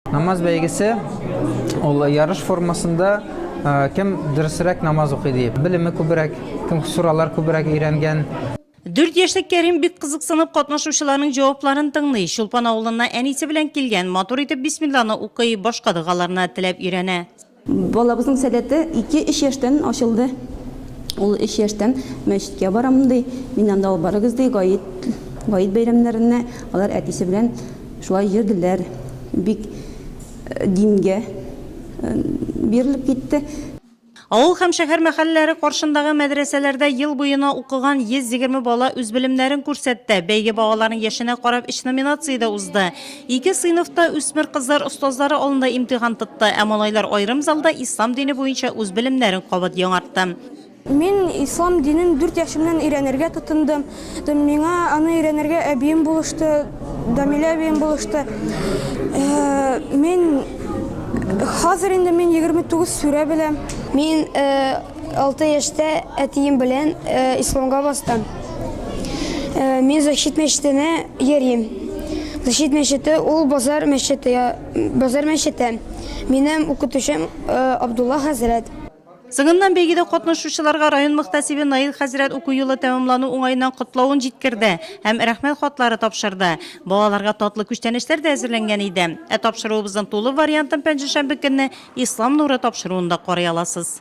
Намаз бәйгесе ул ярыш формасында кем дөресрәк намаз укый дип. Белеме күбрәк, кем суралар күбрәк өйрәнгән. Дүрт яшьлек Кәрим бик кызыксынып катнашучыларның җавапларын тыңлый. Чулпан авылына әнисе белән килгән, матур итеп бисмилланы укый, башка догаларны теләп өйрәнә. Балабызның сәләте ике-өч яшьтән ачылды. Ул өч яшьтән мәчеткә барам ди. Мин анда ул барыгыз ди, гаит, гаит бәйрәмнәренә алар әтисе белән шулай йөрделәр. Бик дингә бирелеп китте. Авыл һәм шәһәр мәхәлләләре каршындагы мәдрәсәләрдә ел буена укыган 120 бала үз белемнәрен күрсәтте. Бәйге балаларның яшенә карап өч номинациядә узды. Ике сыйныф та үсмер кызлар остазлары алдында имтихан тотты, ә малайлар аерым залда ислам дине буенча үз белемнәрен кабат яңартты. Мин ислам динен дүрт яшемнән өйрәнергә тотындым. Миңа аны өйрәнергә әбием булышты, Дамилә әбием булышты. Мин хәзер инде мин егерме тугыз сүрә беләм. Мин Алты яшьтә әтием белән исламга бастым. Мин Защит мәчетенә йөрим. Защит мәчете ул базар мәчете, базар мәчете. Минем укытучым Абдулла хәзрәт. Соңыннан бәйгедә катнашучыларга район мөхтәсибе Наил хәзрәт уку елы тәмамлану уңаеннан котлавын җиткерде һәм рәхмәт хатлары тапшырды. Балаларга татлы күчтәнәчләр дә әзерләнгән иде. Ә тапшыруыбызның тулы вариантын пәнҗешәмбе көнне Ислам нуры тапшыруында карый аласыз.